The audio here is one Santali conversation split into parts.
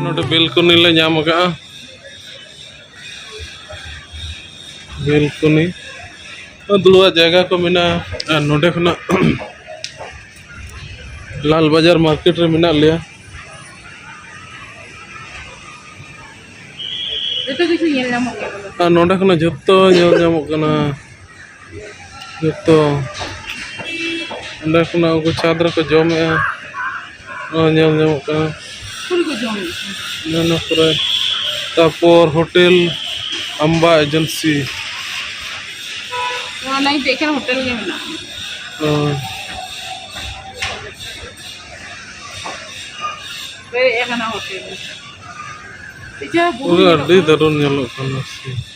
ᱱᱚᱰᱮ ᱵᱮᱞᱠᱚᱱᱤ ᱞᱮ ᱧᱟᱢ ᱟᱠᱟᱫᱼᱟ ᱵᱮᱞᱠᱚᱱᱤ ᱫᱩᱲᱩᱵᱟᱜ ᱡᱟᱭᱜᱟ ᱠᱚ ᱢᱮᱱᱟᱜᱼᱟ ᱟᱨ ᱱᱚᱰᱮ ᱠᱷᱚᱱᱟᱜ ᱞᱟᱞ ᱵᱟᱡᱟᱨ ᱢᱟᱨᱠᱮᱴ ᱨᱮ ᱢᱮᱱᱟᱜ ᱞᱮᱭᱟ ᱡᱚᱛᱚ ᱠᱤᱪᱷᱩ ᱧᱮᱞ ᱧᱟᱢᱚᱜ ᱠᱟᱱᱟ ᱟᱨ ᱱᱚᱰᱮ ᱠᱷᱚᱱᱟᱜ ᱡᱚᱛᱚ ᱧᱮᱞ ᱧᱟᱢᱚᱜ ᱠᱟᱱᱟ ᱡᱚᱛᱚ ᱚᱸᱰᱮ ᱠᱷᱚᱱᱟᱜ ᱩᱱᱠᱩ ᱪᱷᱟᱸᱫᱽ ᱨᱮᱠᱚ ᱡᱚᱢᱮᱫᱼᱟ ᱱᱚᱜᱼᱚᱭ ᱧᱮᱞ ᱧᱟᱢᱚᱜ ᱠᱟᱱᱟ ᱚᱱᱟ ᱠᱚᱨᱮ ᱛᱟᱨᱯᱚᱨ ᱦᱳᱴᱮᱞ ᱟᱢᱵᱟ ᱮᱡᱮᱱᱥᱤ ᱯᱩᱨᱟᱹ ᱟᱹᱰᱤ ᱫᱟᱹᱨᱩᱱ ᱧᱮᱞᱚᱜ ᱠᱟᱱᱟ ᱥᱮ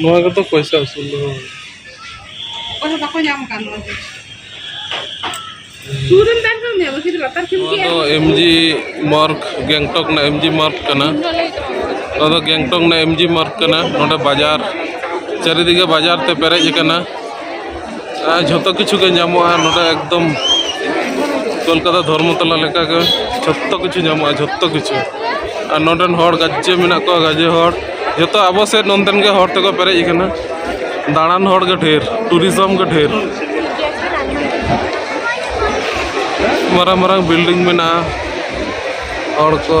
ᱱᱚᱣᱟ ᱜᱮᱛᱚ ᱯᱚᱭᱥᱟ ᱩᱥᱩᱞ ᱫᱚ ᱚᱠᱚᱭ ᱦᱚᱸ ᱵᱟᱠᱚ ᱧᱟᱢ ᱠᱟᱱ ᱱᱚᱣᱟ ᱫᱚ ᱥᱩᱨ ᱨᱮᱱ ᱵᱟᱝ ᱠᱟᱱ ᱜᱮᱭᱟ ᱵᱟᱹᱠᱤ ᱞᱟᱛᱟᱨ ᱠᱷᱮᱢ ᱱᱚᱣᱟ ᱫᱚ ᱮᱢ ᱡᱤ ᱢᱟᱨᱠ ᱜᱮᱝᱴᱚᱠ ᱨᱮᱱᱟᱜ ᱮᱢ ᱡᱤ ᱢᱟᱨᱠ ᱠᱟᱱᱟ ᱱᱚᱣᱟ ᱫᱚ ᱜᱮᱝᱴᱚᱠ ᱨᱮᱱᱟᱜ ᱮᱢ ᱡᱤ ᱢᱟᱨᱠ ᱠᱟᱱᱟ ᱱᱚᱰᱮ ᱵᱟᱡᱟᱨ ᱪᱟᱹᱨᱤᱫᱤᱜᱮ ᱵᱟᱡᱟᱨ ᱛᱮ ᱯᱮᱨᱮᱡ ᱟᱠᱟᱱᱟ ᱡᱷᱚᱛᱚ ᱠᱤᱪᱷᱩ ᱜᱮ ᱧᱟᱢᱚᱜᱼᱟ ᱱᱚᱰᱮ ᱮᱠᱫᱚᱢ ᱠᱳᱞᱠᱟᱛᱟ ᱫᱷᱚᱨᱢᱚᱛᱚᱞᱟ ᱞᱮᱠᱟᱜᱮ ᱡᱷᱚᱛᱚ ᱠᱤᱪᱷᱩ ᱧᱟᱢᱚᱜᱼᱟ ᱡᱷᱚᱛᱚ ᱠᱤᱪᱷᱩ ᱟᱨ ᱱᱚᱰᱮᱱ ᱦᱚᱲ ᱜᱟᱡᱮ ᱢᱮᱱᱟᱜ ᱠᱚᱣᱟ ᱜᱟᱡᱮ ᱦᱚᱲ ᱡᱚᱛᱚ ᱟᱵᱚ ᱥᱮᱫ ᱱᱚᱱᱛᱮᱱ ᱜᱮ ᱦᱚᱲ ᱛᱮᱠᱚ ᱯᱮᱨᱮᱡ ᱟᱠᱟᱱᱟ ᱫᱟᱬᱟᱱ ᱦᱚᱲ ᱜᱮ ᱰᱷᱮᱨ ᱴᱩᱨᱤᱡᱚᱢ ᱜᱮ ᱰᱷᱮᱨ ᱢᱟᱨᱟᱝ ᱢᱟᱨᱟᱝ ᱵᱤᱞᱰᱤᱝ ᱢᱮᱱᱟᱜᱼᱟ ᱦᱚᱲ ᱠᱚ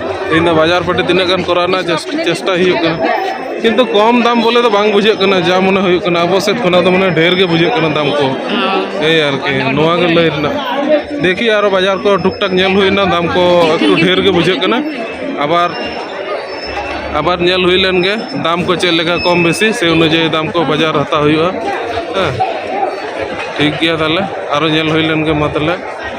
ᱛᱮᱦᱮᱧ ᱫᱚ ᱵᱟᱡᱟᱨ ᱯᱟᱹᱴᱤ ᱛᱤᱱᱟᱹᱜ ᱜᱟᱱ ᱠᱚᱨᱟᱣ ᱨᱮᱱᱟᱜ ᱪᱮᱥᱴᱟ ᱦᱩᱭᱩᱜ ᱠᱟᱱᱟ ᱠᱤᱱᱛᱩ ᱠᱚᱢ ᱫᱟᱢ ᱵᱚᱞᱮ ᱫᱚ ᱵᱟᱝ ᱵᱩᱡᱷᱟᱹᱜ ᱠᱟᱱᱟ ᱡᱟ ᱢᱚᱱᱮ ᱦᱩᱭᱩᱜ ᱠᱟᱱᱟ ᱟᱵᱚ ᱥᱮᱫ ᱠᱷᱚᱱᱟᱜ ᱫᱚ ᱢᱟᱱᱮ ᱰᱷᱮᱨ ᱜᱮ ᱵᱩᱡᱷᱟᱹᱜ ᱠᱟᱱᱟ ᱫᱟᱢ ᱠᱚ ᱮᱭ ᱟᱨᱠᱤ ᱱᱚᱣᱟ ᱜᱮ ᱞᱟᱹᱭ ᱨᱮᱱᱟᱜ ᱫᱮᱠᱷᱤ ᱟᱨᱚ ᱵᱟᱡᱟᱨ ᱠᱚ ᱴᱩᱠ ᱴᱟᱠ ᱧᱮᱞ ᱦᱩᱭᱱᱟ ᱫᱟᱢ ᱠᱚ ᱮᱠᱴᱩ ᱰᱷᱮᱨ ᱜᱮ ᱵᱩᱡᱷᱟᱹᱜ ᱠᱟᱱᱟ ᱟᱵᱟᱨ ᱟᱵᱟᱨ ᱧᱮᱞ ᱦᱩᱭ ᱞᱮᱱ ᱜᱮ ᱫᱟᱢ ᱠᱚ ᱪᱮᱫ ᱞᱮᱠᱟ ᱠᱚᱢ ᱵᱮᱥᱤ ᱥᱮ ᱚᱱᱩᱡᱟᱭᱤ ᱫᱟᱢ ᱠᱚ ᱵᱟᱡᱟᱨ ᱦᱟᱛᱟᱣ ᱦᱩᱭᱩᱜᱼᱟ ᱦᱮᱸ ᱴᱷᱤᱠ ᱜᱮᱭᱟ ᱛᱟᱦᱚᱞᱮ ᱟᱨᱚ ᱧᱮᱞ ᱦᱩᱭ ᱞᱮᱱ ᱜᱮ ᱢᱟ ᱛᱟᱦᱚᱞᱮ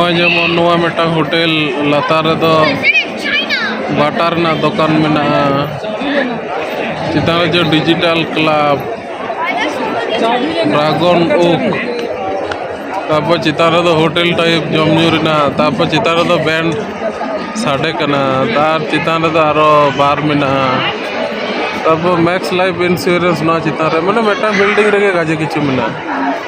ᱱᱚᱜᱼᱚᱭ ᱡᱮᱢᱚᱱ ᱱᱚᱣᱟ ᱢᱤᱫᱴᱟᱝ ᱦᱳᱴᱮᱞ ᱞᱟᱛᱟᱨ ᱨᱮᱫᱚ ᱵᱟᱴᱟ ᱨᱮᱱᱟᱜ ᱫᱚᱠᱟᱱ ᱢᱮᱱᱟᱜᱼᱟ ᱪᱮᱛᱟᱱ ᱨᱮ ᱡᱮ ᱰᱤᱡᱤᱴᱟᱞ ᱠᱞᱟᱵᱽ ᱰᱨᱟᱜᱚᱱ ᱳᱠ ᱛᱟᱨᱯᱚᱨ ᱪᱮᱛᱟᱱ ᱨᱮᱫᱚ ᱦᱳᱴᱮᱞ ᱴᱟᱭᱤᱯ ᱡᱚᱢ ᱧᱩ ᱨᱮᱱᱟᱜ ᱛᱟᱨᱯᱚᱨ ᱪᱮᱛᱟᱱ ᱨᱮᱫᱚ ᱵᱮᱱᱰ ᱥᱟᱰᱮ ᱠᱟᱱᱟ ᱛᱟᱨ ᱪᱮᱛᱟᱱ ᱨᱮᱫᱚ ᱟᱨᱚ ᱵᱟᱨ ᱢᱮᱱᱟᱜᱼᱟ ᱛᱟᱨᱯᱚᱨ ᱢᱮᱠᱥ ᱞᱟᱭᱤᱯᱷ ᱤᱱᱥᱩᱨᱮᱱᱥ ᱱᱚᱣᱟ ᱪᱮᱛᱟᱱ ᱨᱮ ᱢᱟᱱᱮ ᱢᱤᱫᱴᱟᱝ ᱵᱤᱞᱰᱤᱝ ᱨᱮᱜᱮ ᱜᱟᱡᱮ ᱠᱤᱪᱷᱩ ᱢᱮᱱᱟᱜᱼᱟ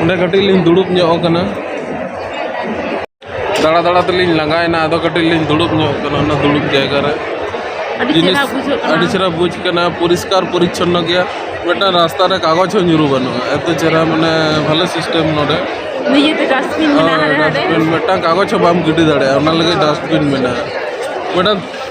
ᱚᱸᱰᱮ ᱠᱟᱹᱴᱤᱡ ᱞᱤᱧ ᱫᱩᱲᱩᱵ ᱧᱚᱜ ᱟᱠᱟᱱᱟ ᱫᱟᱬᱟ ᱫᱟᱬᱟ ᱛᱮᱞᱤᱧ ᱞᱟᱸᱜᱟᱭᱮᱱᱟ ᱟᱫᱚ ᱠᱟᱹᱴᱤᱡ ᱞᱤᱧ ᱫᱩᱲᱩᱵ ᱧᱚᱜ ᱟᱠᱟᱱᱟ ᱚᱱᱟ ᱫᱩᱲᱩᱵ ᱡᱟᱭᱜᱟ ᱨᱮ ᱡᱤᱱᱤᱥ ᱟᱹᱰᱤ ᱪᱮᱦᱨᱟ ᱵᱩᱡᱽ ᱠᱟᱱᱟ ᱯᱚᱨᱤᱥᱠᱟᱨ ᱯᱚᱨᱤᱪᱷᱚᱱᱱᱚ ᱜᱮᱭᱟ ᱢᱤᱫᱴᱟᱝ ᱨᱟᱥᱛᱟ ᱨᱮ ᱠᱟᱜᱚᱡᱽ ᱦᱚᱸ ᱧᱩᱨᱩ ᱵᱟᱹᱱᱩᱜᱼᱟ ᱮᱛᱚ ᱪᱮᱦᱨᱟ ᱢᱟᱱᱮ ᱵᱷᱟᱞᱮ ᱥᱤᱥᱴᱮᱢ ᱱᱚᱰᱮ ᱱᱤᱡᱮᱛᱮ ᱰᱟᱥᱴᱵᱤᱱ ᱢᱮᱱᱟᱜᱼᱟ ᱰᱟᱥᱴᱵᱤᱱ ᱢᱤᱫᱴᱟᱝ ᱠᱟᱜᱚᱡᱽ ᱦᱚᱸ ᱵᱟᱢ ᱜᱤᱰᱤ ᱫᱟᱲᱮᱭᱟᱜᱼᱟ ᱚᱱᱟ ᱞᱟᱹᱜᱤᱫ ᱰᱟᱥᱴᱵᱤᱱ ᱢᱮᱱᱟᱜᱼᱟ ᱢᱤᱫᱴᱟᱝ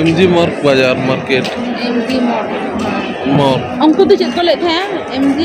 ᱮᱢ ᱡᱤ ᱢᱟᱨᱠ ᱵᱟᱡᱟᱨ market M G mall mall ᱩᱱᱠᱩ ᱫᱚ ᱪᱮᱫ ᱠᱚ ᱞᱟᱹᱭᱮᱫ ᱛᱟᱦᱮᱸᱜᱼᱟ ᱮᱢ ᱡᱤ